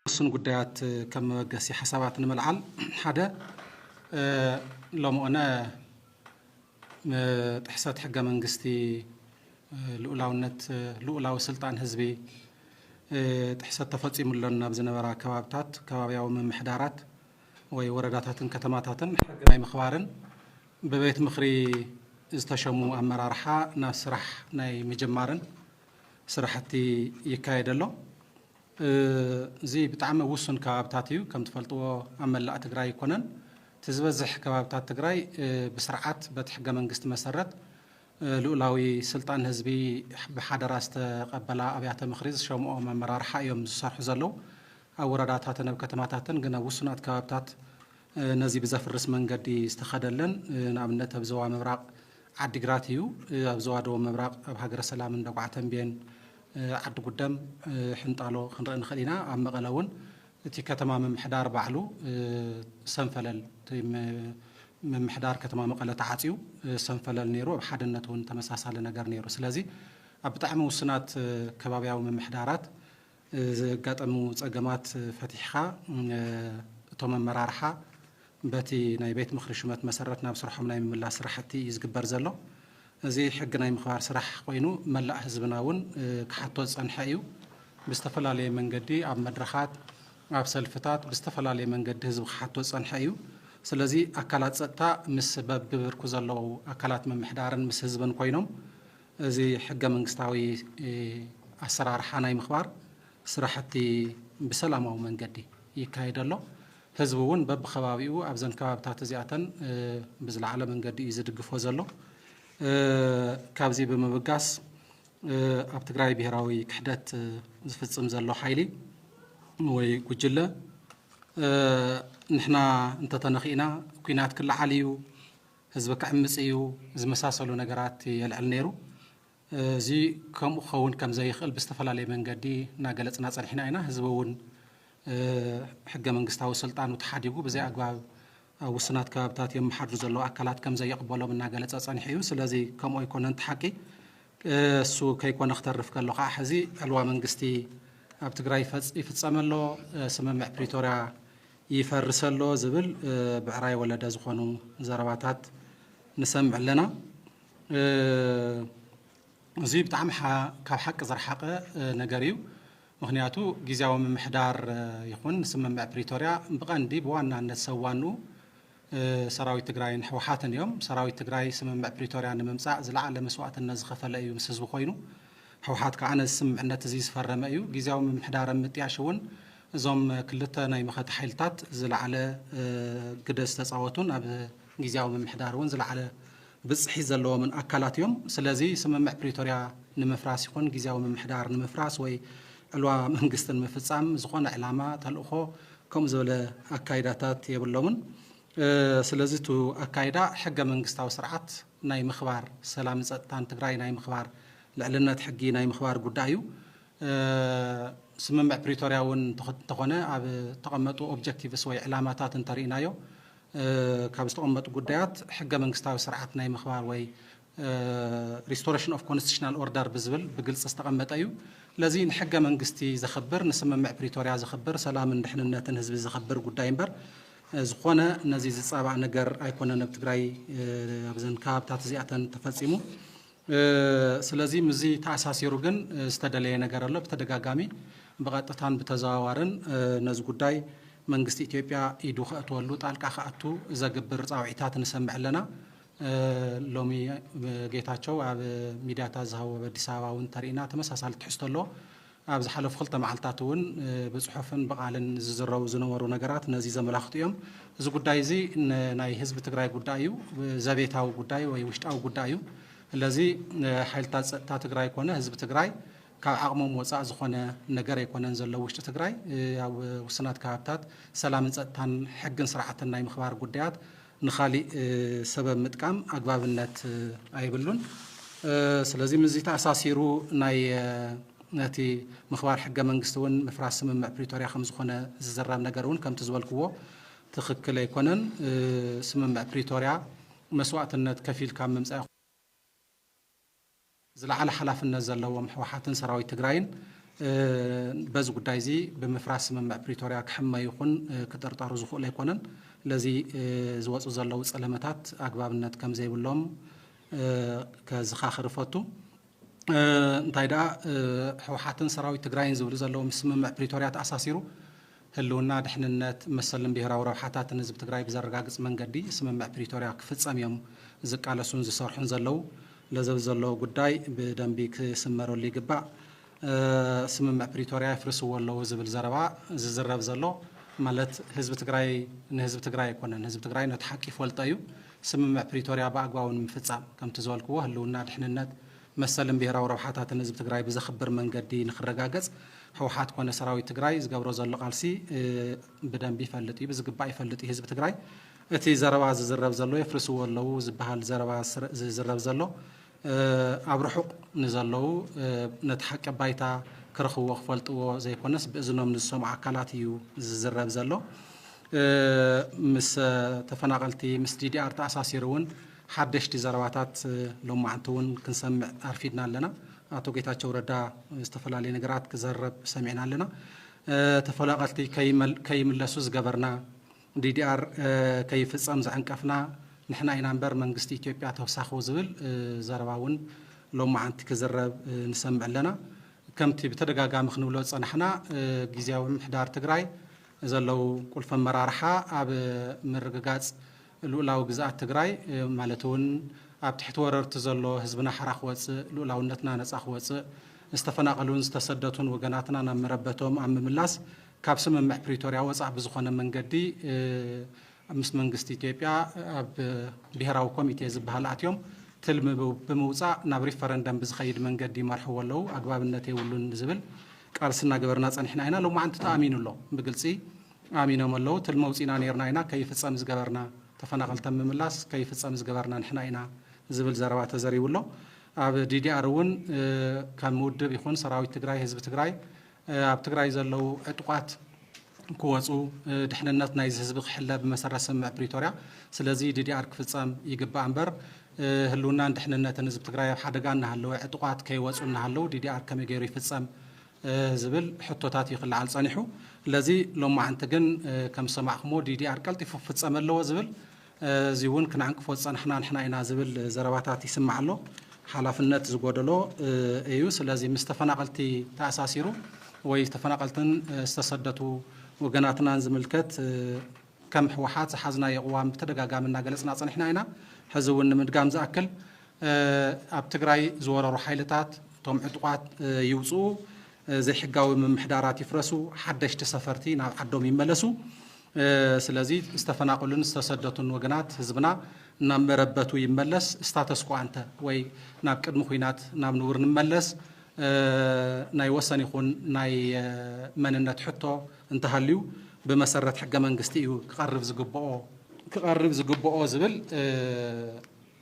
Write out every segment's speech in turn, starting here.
ውሱን ጉዳያት ከም መበገሲ ሓሳባት ንምልዓል ሓደ ሎምኦነ ጥሕሰት ሕገ መንግስቲ ልኡላውነት ልኡላዊ ስልጣን ህዝቢ ጥሕሰት ተፈፂሙ ኣሎ ናብ ዝነበራ ከባብታት ከባቢያዊ ምምሕዳራት ወይ ወረዳታትን ከተማታትን ሕጊ ናይ ምኽባርን ብቤት ምኽሪ ዝተሸሙ ኣመራርሓ ናብ ስራሕ ናይ ምጅማርን ስራሕቲ ይካየድ ኣሎ። እዚ ብጣዕሚ ኣብ ውሱን ከባብታት እዩ። ከም ትፈልጥዎ ኣብ መላእ ትግራይ ኣይኮነን። እቲ ዝበዝሕ ከባብታት ትግራይ ብስርዓት በቲ ሕገ መንግስቲ መሰረት ልኡላዊ ስልጣን ህዝቢ ብሓደራ ዝተቐበላ ኣብያተ ምኽሪ ዝሸምኦም ኣመራርሓ እዮም ዝሰርሑ ዘለዉ። ኣብ ወረዳታትን ኣብ ከተማታትን ግን ኣብ ውሱናት ከባብታት ነዚ ብዘፍርስ መንገዲ ዝተኸደ ኣለን። ንኣብነት ኣብ ዞባ ምብራቕ ዓዲግራት እዩ። ኣብ ዞባ ደቡብ ምብራቕ ኣብ ሃገረ ሰላም፣ እንደጉዓ ተምቤን፣ ዓዲ ጉደም፣ ሕንጣሎ ክንርኢ ንኽእል ኢና። ኣብ መቐለ እውን እቲ ከተማ ምምሕዳር ባዕሉ ሰንፈለል እቲ ምምሕዳር ከተማ መቐለ ተዓፅዩ ሰንፈለል ነይሩ ኣብ ሓድነት እውን ተመሳሳሊ ነገር ነይሩ ስለዚ ኣብ ብጣዕሚ ውስናት ከባብያዊ ምምሕዳራት ዘጋጠሙ ፀገማት ፈቲሕኻ እቶም ኣመራርሓ በቲ ናይ ቤት ምኽሪ ሹመት መሰረት ናብ ስርሖም ናይ ምምላስ ስራሕቲ እዩ ዝግበር ዘሎ። እዚ ሕጊ ናይ ምኽባር ስራሕ ኮይኑ መላእ ህዝብና እውን ክሓቶ ዝፀንሐ እዩ። ብዝተፈላለየ መንገዲ ኣብ መድረኻት፣ ኣብ ሰልፍታት ብዝተፈላለየ መንገዲ ህዝቢ ክሓቶ ዝፀንሐ እዩ። ስለዚ ኣካላት ፀጥታ ምስ በቢብርኩ ዘለዉ ኣካላት ምምሕዳርን ምስ ህዝብን ኮይኖም እዚ ሕገ መንግስታዊ ኣሰራርሓ ናይ ምኽባር ስራሕቲ ብሰላማዊ መንገዲ ይካየድ ኣሎ። ህዝቢ እውን በብከባቢኡ ኣብዘን ከባብታት እዚኣተን ብዝለዓለ መንገዲ እዩ ዝድግፎ ዘሎ። ካብዚ ብምብጋስ ኣብ ትግራይ ብሄራዊ ክሕደት ዝፍፅም ዘሎ ሓይሊ ወይ ጉጅለ ንሕና እንተተነኺእና ኲናት ክለዓል እዩ፣ ህዝቢ ክዕምፅ እዩ ዝመሳሰሉ ነገራት የልዕል ነይሩ። እዚ ከምኡ ክኸውን ከም ዘይኽእል ብዝተፈላለየ መንገዲ እናገለፅና ፀኒሕና ኢና። ህዝቢ እውን ሕገ መንግስታዊ ስልጣኑ ተሓዲጉ ብዘይ ኣግባብ ኣብ ውሱናት ከባብታት የመሓድሩ ዘለዉ ኣካላት ከም ዘይቕበሎም እናገለፀ ፀኒሑ እዩ። ስለዚ ከምኡ ኣይኮነን እቲ ሓቂ። እሱ ከይኮነ ክተርፍ ከሎ ከዓ ሕዚ ዕልዋ መንግስቲ ኣብ ትግራይ ይፍፀም ኣሎ፣ ስምምዕ ፕሪቶርያ ይፈርስ ኣሎ ዝብል ብዕራይ ወለደ ዝኾኑ ዘረባታት ንሰምዕ ኣለና። እዚ ብጣዕሚ ካብ ሓቂ ዝረሓቀ ነገር እዩ። ምኽንያቱ ጊዚያዊ ምምሕዳር ይኹን ስምምዕ ፕሪቶርያ ብቀንዲ ብዋናነት ሰብ ዋንኡ ሰራዊት ትግራይን ህወሓትን እዮም። ሰራዊት ትግራይ ስምምዕ ፕሪቶርያ ንምምፃእ ዝለዓለ መስዋእትነት ዝኸፈለ እዩ ምስ ህዝቢ ኮይኑ። ህወሓት ከዓ ነዚ ስምምዕነት እዚ ዝፈረመ እዩ። ጊዚያዊ ምምሕዳር ኣብ ምጥያሽ እውን እዞም ክልተ ናይ መኸተ ሓይልታት ዝለዓለ ግደ ዝተፃወቱን ኣብ ጊዚያዊ ምምሕዳር እውን ዝለዓለ ብፅሒት ዘለዎምን ኣካላት እዮም። ስለዚ ስምምዕ ፕሪቶርያ ንምፍራስ ይኹን ግዝያዊ ምምሕዳር ንምፍራስ ወይ ዕልዋ መንግስቲ ንምፍፃም ዝኾነ ዕላማ፣ ተልእኾ ከምኡ ዝበለ ኣካይዳታት የብሎምን። ስለዚ እቱ ኣካይዳ ሕገ መንግስታዊ ስርዓት ናይ ምኽባር፣ ሰላምን ፀጥታን ትግራይ ናይ ምኽባር፣ ልዕልነት ሕጊ ናይ ምኽባር ጉዳይ እዩ። ስምምዕ ፕሪቶርያ እውን እንተኾነ ኣብ እተቐመጡ ኦብጀክቲቭስ ወይ ዕላማታት እንተሪኢናዮ ካብ ዝተቐመጡ ጉዳያት ሕገ መንግስታዊ ስርዓት ናይ ምኽባር ወይ ሪስቶሬሽን ኦፍ ኮንስቲቱሽናል ኦርደር ብዝብል ብግልፂ ዝተቐመጠ እዩ። ስለዚ ንሕገ መንግስቲ ዘኽብር፣ ንስምምዕ ፕሪቶርያ ዘኽብር፣ ሰላምን ድሕንነትን ህዝቢ ዘኽብር ጉዳይ እምበር ዝኾነ ነዚ ዝፃባእ ነገር ኣይኮነን ኣብ ትግራይ ኣብዘን ከባብታት እዚኣተን ተፈፂሙ። ስለዚ ምስዚ ተኣሳሲሩ ግን ዝተደለየ ነገር ኣሎ። ብተደጋጋሚ ብቐጥታን ብተዘዋዋርን ነዚ ጉዳይ መንግስቲ ኢትዮጵያ ኢዱ ከእትወሉ ጣልቃ ክኣቱ ዘግብር ፃውዒታት ንሰምዕ ኣለና። ሎሚ ጌታቸው ኣብ ሚድያታት ዝሃቦ ኣብ ኣዲስ ኣበባ እውን እንተሪኢና ተመሳሳሊ ትሕዝቶ ኣለዎ። ኣብ ዝሓለፉ ክልተ መዓልትታት እውን ብፅሑፍን ብቓልን ዝዝረቡ ዝነበሩ ነገራት ነዚ ዘመላኽቱ እዮም። እዚ ጉዳይ እዚ ናይ ህዝቢ ትግራይ ጉዳይ እዩ። ዘቤታዊ ጉዳይ ወይ ውሽጣዊ ጉዳይ እዩ። ስለዚ ሓይልታት ፀጥታ ትግራይ ኮነ ህዝቢ ትግራይ ካብ ዓቕሞም ወፃእ ዝኾነ ነገር ኣይኮነን ዘሎ ኣብ ውሽጢ ትግራይ ኣብ ውሱናት ከባብታት ሰላምን ፀጥታን ሕግን ስርዓትን ናይ ምኽባር ጉዳያት ንኻሊእ ሰበብ ምጥቃም ኣግባብነት ኣይብሉን ስለዚ ምስዚ ተኣሳሲሩ ናይ ነቲ ምኽባር ሕገ መንግስቲ እውን ምፍራስ ስምምዕ ፕሪቶርያ ከም ዝኾነ ዝዝረብ ነገር እውን ከምቲ ዝበልክዎ ትኽክል ኣይኮነን ስምምዕ ፕሪቶርያ መስዋእትነት ከፊልካ ምምፃእ ዝለዓለ ሓላፍነት ዘለዎም ህወሓትን ሰራዊት ትግራይን በዚ ጉዳይ እዚ ብምፍራስ ስምምዕ ፕሪቶርያ ክሕመ ይኹን ክጥርጠሩ ዝኽእሉ ኣይኮነን። ስለዚ ዝወፁ ዘለዉ ፀለመታት ኣግባብነት ከምዘይብሎም ከዝኻኽር እፈቱ። እንታይ ደኣ ህወሓትን ሰራዊት ትግራይን ዝብሉ ዘለዉ ምስ ስምምዕ ፕሪቶርያ ተኣሳሲሩ ህልውና፣ ድሕንነት፣ መሰልን ብሄራዊ ረብሓታትን ህዝቢ ትግራይ ብዘረጋግፅ መንገዲ ስምምዕ ፕሪቶሪያ ክፍፀም እዮም ዝቃለሱን ዝሰርሑን ዘለው። ለዘብ ዘሎ ጉዳይ ብደንቢ ክስመረሉ ይግባእ። ስምምዕ ፕሪቶሪያ የፍርስዎ ኣለው ዝብል ዘረባ ዝዝረብ ዘሎ ማለት ህዝቢ ትግራይ ንህዝቢ ትግራይ ኣይኮነን። ህዝቢ ትግራይ ነቲ ሓቂ ይፈልጦ እዩ። ስምምዕ ፕሪቶሪያ ብኣግባቡ ንምፍፃም ከምቲ ዝበልክዎ ህልውና፣ ድሕንነት፣ መሰልን ብሄራዊ ረብሓታትን ህዝቢ ትግራይ ብዘኽብር መንገዲ ንኽረጋገፅ ህውሓት ኮነ ሰራዊት ትግራይ ዝገብሮ ዘሎ ቃልሲ ብደንቢ ይፈልጥ እዩ፣ ብዝግባእ ይፈልጥ እዩ ህዝቢ ትግራይ። እቲ ዘረባ ዝዝረብ ዘሎ የፍርስዎ ኣለዉ ዝበሃል ዘረባ ዝዝረብ ዘሎ ኣብ ርሑቕ ንዘለዉ ነቲ ሓቂ ኣብ ባይታ ክረኽብዎ ክፈልጥዎ ዘይኮነስ ብእዝኖም ንዝሰምዑ ኣካላት እዩ ዝዝረብ ዘሎ። ምስ ተፈናቐልቲ ምስ ዲዲኣር ተኣሳሲሩ እውን ሓደሽቲ ዘረባታት ሎማዕንቲ እውን ክንሰምዕ ኣርፊድና ኣለና። ኣቶ ጌታቸው ረዳ ዝተፈላለዩ ነገራት ክዘረብ ሰሚዕና ኣለና። ተፈናቐልቲ ከይምለሱ ዝገበርና፣ ዲዲኣር ከይፍፀም ዘዕንቀፍና ንሕና ኢና እምበር መንግስቲ ኢትዮጵያ ተውሳኹ ዝብል ዘረባ እውን ሎማዕንቲ ክዝረብ ንሰምዕ ኣለና። ከምቲ ብተደጋጋሚ ክንብሎ ዝፀናሕና ጊዚያዊ ምምሕዳር ትግራይ ዘለዉ ቁልፊ ኣመራርሓ ኣብ ምርግጋፅ ሉኡላዊ ግዝኣት ትግራይ ማለት እውን ኣብ ትሕቲ ወረርቲ ዘሎ ህዝብና ሓራ ክወፅእ፣ ሉኡላውነትና ነፃ ክወፅእ፣ ዝተፈናቐሉን ዝተሰደቱን ወገናትና ናብ መረበቶም ኣብ ምምላስ ካብ ስምምዕ ፕሪቶርያ ወፃእ ብዝኾነ መንገዲ ምስ መንግስቲ ኢትዮጵያ ኣብ ብሄራዊ ኮሚቴ ዝበሃል ኣትዮም ትልሚ ብምውፃእ ናብ ሪፈረንደም ብዝኸይድ መንገዲ ይመርሕዎ ኣለው፣ ኣግባብነት የብሉን ዝብል ቃልሲ እናገበርና ፀኒሕና ኢና። ሎማዕንቲ ተኣሚኑ ኣሎ ብግልፂ። ኣሚኖም ኣለው ትልሚ ኣውጺእና ኔርና ኢና ከይፍጸም ዝገበርና ተፈናቀልተም ምምላስ ከይፍጸም ዝገበርና ንሕና ኢና ዝብል ዘረባ ተዘሪቡ ኣሎ ኣብ ዲዲኣር እውን ከም ውድብ ይኹን ሰራዊት ትግራይ ህዝቢ ትግራይ ኣብ ትግራይ ዘለው ዕጡቃት ክወፁ ድሕንነት ናይዚ ህዝቢ ክሕለ ብመሰረት ስምምዕ ፕሪቶርያ ስለዚ ዲዲኣር ክፍፀም ይግባእ እምበር ህልውናን ድሕንነትን ህዝቢ ትግራይ ኣብ ሓደጋ እናሃለወ ዕጡቃት ከይወፁ እናሃለው ዲዲኣር ከመይ ገይሩ ይፍፀም ዝብል ሕቶታት እዩ ክለዓል ፀኒሑ። ለዚ ሎማዕንቲ ግን ከም ዝሰማዕኹምዎ ዲዲኣር ቀልጢፉ ክፍፀም ኣለዎ ዝብል እዚ እውን ክንዕንቅፎ ዝፀናሕና ንሕና ኢና ዝብል ዘረባታት ይስማዕ ኣሎ። ሓላፍነት ዝጎደሎ እዩ። ስለዚ ምስ ተፈናቐልቲ ተኣሳሲሩ ወይ ተፈናቐልትን ዝተሰደቱ ወገናትናን ዝምልከት ከም ህወሓት ዝሓዝናዮ ቅዋም ብተደጋጋሚ እናገለፅና ፀኒሕና ኢና። ሕዚ እውን ንምድጋም ዝኣክል ኣብ ትግራይ ዝወረሩ ሓይልታት እቶም ዕጡቓት ይውፅኡ፣ ዘይሕጋዊ ምምሕዳራት ይፍረሱ፣ ሓደሽቲ ሰፈርቲ ናብ ዓዶም ይመለሱ። ስለዚ ዝተፈናቐሉን ዝተሰደቱን ወገናት ህዝብና ናብ መረበቱ ይመለስ፣ ስታተስ ኮ ኣንተ ወይ ናብ ቅድሚ ኹናት ናብ ንቡር ንመለስ፣ ናይ ወሰን ይኹን ናይ መንነት ሕቶ፣ እንተሃልዩ ብመሰረት ሕገ መንግስቲ እዩ ክቐርብ ዝግብኦ። ክቐርብ ዝግብኦ ዝብል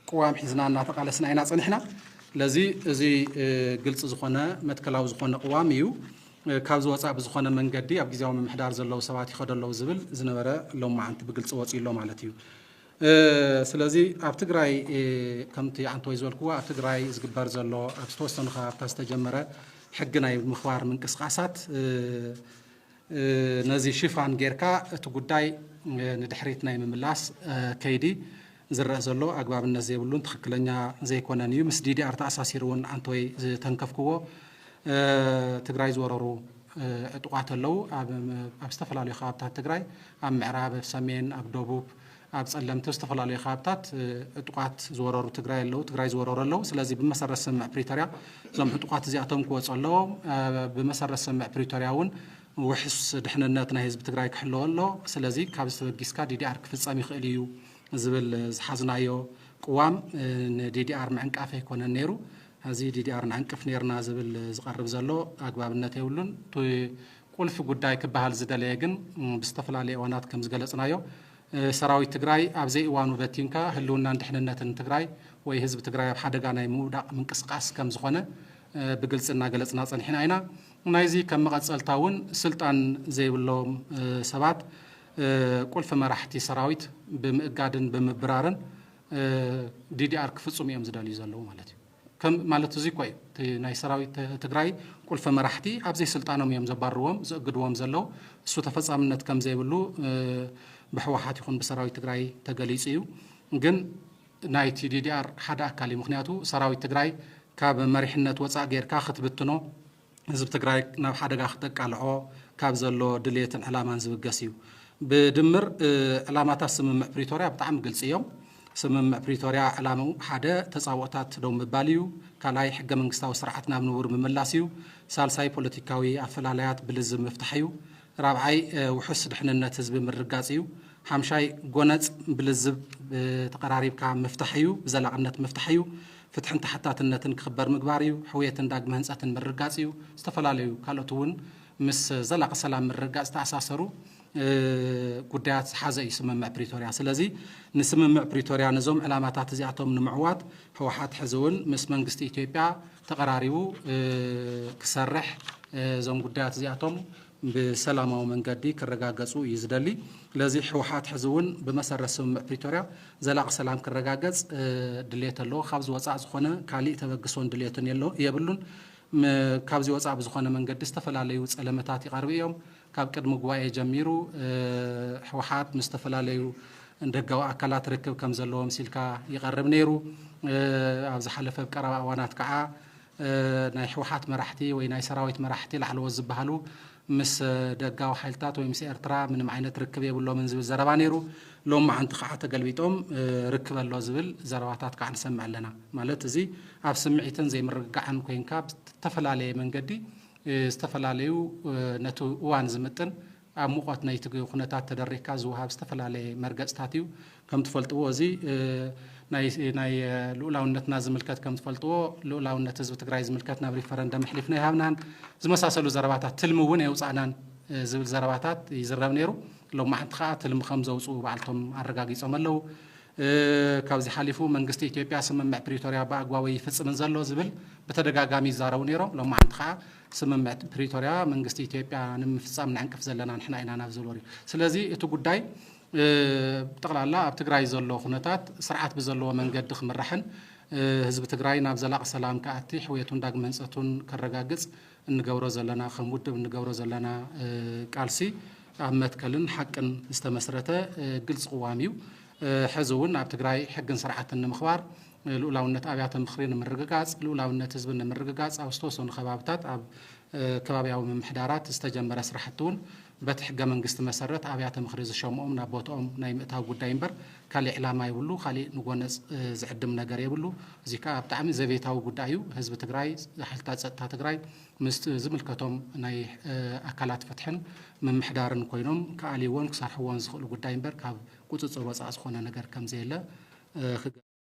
ቅዋም ሒዝና እናተቓለስና ኢና ፀኒሕና። ስለዚ እዚ ግልፂ ዝኾነ መትከላዊ ዝኾነ ቅዋም እዩ። ካብዚ ወፃእ ብዝኾነ መንገዲ ኣብ ግዜያዊ ምምሕዳር ዘለዉ ሰባት ይኸዱ ኣለዉ ዝብል ዝነበረ ሎማዓንቲ ብግልፂ ወፂኡ ኣሎ ማለት እዩ። ስለዚ ኣብ ትግራይ ከምቲ ኣንቶይ ዝበልክዎ ኣብ ትግራይ ዝግበር ዘሎ ኣብ ዝተወሰኑ ከባብታት ዝተጀመረ ሕጊ ናይ ምኽባር ምንቅስቓሳት ነዚ ሽፋን ጌርካ እቲ ጉዳይ ንድሕሪት ናይ ምምላስ ከይዲ ዝረአ ዘሎ ኣግባብነት ዘይብሉን ትኽክለኛ ዘይኮነን እዩ ምስ ዲዲኣር ተኣሳሲሩ እውን ኣንቶይ ዝተንከፍክዎ ትግራይ ዝወረሩ ዕጡቓት ኣለው። ኣብ ዝተፈላለዩ ከባብታት ትግራይ ኣብ ምዕራብ፣ ኣብ ሰሜን፣ ኣብ ደቡብ፣ ኣብ ፀለምቲ ዝተፈላለዩ ከባብታት ዕጡቓት ዝወረሩ ትግራይ ኣለው ትግራይ ዝወረሩ ኣለው። ስለዚ ብመሰረት ስምምዕ ፕሪቶሪያ እዞም ዕጡቓት እዚኣቶም ክወፁ ኣለዎም። ብመሰረት ስምምዕ ፕሪቶሪያ እውን ውሕስ ድሕንነት ናይ ህዝቢ ትግራይ ክሕለወ ኣሎ። ስለዚ ካብዚ ተበጊስካ ዲዲኣር ክፍፀም ይኽእል እዩ ዝብል ዝሓዝናዮ ቅዋም ንዲዲኣር ምዕንቃፍ ኣይኮነን ነይሩ። ነዚ ዲዲኣር ንዕንቅፍ ኔርና ዝብል ዝቐርብ ዘሎ ኣግባብነት የብሉን። እቲ ቁልፊ ጉዳይ ክበሃል ዝደለየ ግን ብዝተፈላለየ እዋናት ከም ዝገለፅናዮ ሰራዊት ትግራይ ኣብ ዘይእዋኑ በቲንካ ህልውናን ድሕንነትን ትግራይ ወይ ህዝቢ ትግራይ ኣብ ሓደጋ ናይ ምውዳቕ ምንቅስቓስ ከም ዝኾነ ብግልፂ እናገለፅና ፀኒሕና ኢና። ናይዚ ከም መቐፀልታ እውን ስልጣን ዘይብሎም ሰባት ቁልፊ መራሕቲ ሰራዊት ብምእጋድን ብምብራርን ዲዲኣር ክፍፅሙ እዮም ዝደልዩ ዘለዉ ማለት እዩ። ከም ማለት እዙይ እኳ እዩ እቲ ናይ ሰራዊት ትግራይ ቁልፊ መራሕቲ ኣብ ዘይስልጣኖም እዮም ዘባርዎም ዝእግድዎም ዘለዉ። እሱ ተፈፃምነት ከም ዘይብሉ ብሕወሓት ይኹን ብሰራዊት ትግራይ ተገሊፁ እዩ። ግን ናይቲ ዲዲኣር ሓደ ኣካል እዩ። ምኽንያቱ ሰራዊት ትግራይ ካብ መሪሕነት ወፃእ ገይርካ ክትብትኖ ህዝቢ ትግራይ ናብ ሓደጋ ክተቃልዖ ካብ ዘሎ ድልየትን ዕላማን ዝብገስ እዩ። ብድምር ዕላማታት ስምምዕ ፕሪቶርያ ብጣዕሚ ግልፂ እዮም። ስምምዕ ፕሪቶርያ ዕላምኡ ሓደ ተፃብኦታት ደው ምባል እዩ። ካልኣይ ሕገ መንግስታዊ ስርዓት ናብ ንቡር ምምላስ እዩ። ሳልሳይ ፖለቲካዊ ኣፈላላያት ብልዝብ ምፍታሕ እዩ። ራብዓይ ውሑስ ድሕንነት ህዝቢ ምርግጋፅ እዩ። ሓምሻይ ጎነፅ ብልዝብ ተቐራሪብካ ምፍታሕ እዩ፣ ብዘላቕነት ምፍታሕ እዩ። ፍትሕን ተሓታትነትን ክኽበር ምግባር እዩ። ሕውየትን ዳግመ ህንፀትን ምርግጋፅ እዩ። ዝተፈላለዩ ካልኦት እውን ምስ ዘላቒ ሰላም ምርግጋፅ ዝተኣሳሰሩ ጉዳያት ዝሓዘ እዩ ስምምዕ ፕሪቶርያ። ስለዚ ንስምምዕ ፕሪቶርያ ነዞም ዕላማታት እዚኣቶም ንምዕዋት ህወሓት ሕዚ እውን ምስ መንግስቲ ኢትዮጵያ ተቐራሪቡ ክሰርሕ እዞም ጉዳያት እዚኣቶም ብሰላማዊ መንገዲ ክረጋገፁ እዩ ዝደሊ። ስለዚ ህወሓት ሕዚ እውን ብመሰረት ስምምዕ ፕሪቶርያ ዘላቒ ሰላም ክረጋገፅ ድሌት ኣለዎ። ካብዚ ወፃእ ዝኾነ ካሊእ ተበግሶን ድሌትን የብሉን። ካብዚ ወፃእ ብዝኾነ መንገዲ ዝተፈላለዩ ፀለመታት ይቐርቡ እዮም። ካብ ቅድሚ ጉባኤ ጀሚሩ ህወሓት ምስ ዝተፈላለዩ ደጋዊ ኣካላት ርክብ ከም ዘለዎ ምሲልካ ይቐርብ ነይሩ። ኣብ ዝሓለፈ ኣብ ቀረባ እዋናት ከዓ ናይ ህወሓት መራሕቲ ወይ ናይ ሰራዊት መራሕቲ ላዕለዎት ዝበሃሉ ምስ ደጋዊ ሓይልታት ወይ ምስ ኤርትራ ምንም ዓይነት ርክብ የብሎምን ዝብል ዘረባ ነይሩ። ሎም መዓንቲ ከዓ ተገልቢጦም ርክብ ኣሎ ዝብል ዘረባታት ከዓ ንሰምዕ ኣለና። ማለት እዚ ኣብ ስምዒትን ዘይምርግጋዕን ኮይንካ ብተፈላለየ መንገዲ ዝተፈላለዩ ነቲ እዋን ዝምጥን ኣብ ሙቐት ናይቲ ኩነታት ተደሪኽካ ዝወሃብ ዝተፈላለየ መርገፅታት እዩ። ከም ትፈልጥዎ እዚ ናይ ልኡላውነትና ዝምልከት ከም ትፈልጥዎ ልኡላውነት ህዝቢ ትግራይ ዝምልከት ናብ ሪፈረንደም ኣሕሊፍና ይሃብናን ዝመሳሰሉ ዘረባታት ትልሚ እውን የውፃእናን ዝብል ዘረባታት ይዝረብ ነይሩ። ሎማዕንቲ ከዓ ትልሚ ከም ዘውፅኡ ባዕልቶም ኣረጋጊፆም ኣለው። ካብዚ ሓሊፉ መንግስቲ ኢትዮጵያ ስምምዕ ፕሪቶርያ ብኣግባቡ ኣይፍፅምን ዘሎ ዝብል ብተደጋጋሚ ይዛረቡ ነይሮም። ሎማዓንቲ ከዓ ስምምዕ ፕሪቶርያ መንግስቲ ኢትዮጵያ ንምፍፃም ንዕንቅፍ ዘለና ንሕና ኢና ናብ ዝብል ወሪዱ። ስለዚ እቲ ጉዳይ ብጠቕላላ ኣብ ትግራይ ዘሎ ኩነታት ስርዓት ብዘለዎ መንገዲ ክምራሕን ህዝቢ ትግራይ ናብ ዘላቒ ሰላም ክኣቲ ሕውየቱን ዳግመ ህንፀቱን ከረጋግፅ እንገብሮ ዘለና ከም ውድብ እንገብሮ ዘለና ቃልሲ ኣብ መትከልን ሓቅን ዝተመስረተ ግልፂ ቅዋም እዩ። ሕዚ እውን ኣብ ትግራይ ሕግን ስርዓትን ንምኽባር፣ ልኡላውነት ኣብያተ ምኽሪ ንምርግጋፅ፣ ልኡላውነት ህዝቢ ንምርግጋፅ ኣብ ዝተወሰኑ ከባብታት ኣብ ከባብያዊ ምምሕዳራት ዝተጀመረ ስራሕቲ እውን በቲ ሕገ መንግስቲ መሰረት ኣብያተ ምኽሪ ዝሸምኦም ናብ ቦትኦም ናይ ምእታው ጉዳይ እምበር ካሊእ ዕላማ የብሉ ካሊእ ንጎነፅ ዝዕድም ነገር የብሉ እዙይ ከዓ ብጣዕሚ ዘቤታዊ ጉዳይ እዩ ህዝቢ ትግራይ ሓይልታት ፀጥታ ትግራይ ምስ ዝምልከቶም ናይ ኣካላት ፍትሕን ምምሕዳርን ኮይኖም ክኣልይዎን ክሰርሕዎን ዝኽእሉ ጉዳይ እምበር ካብ ቁፅፅር ወፃእ ዝኾነ ነገር ከምዘየለ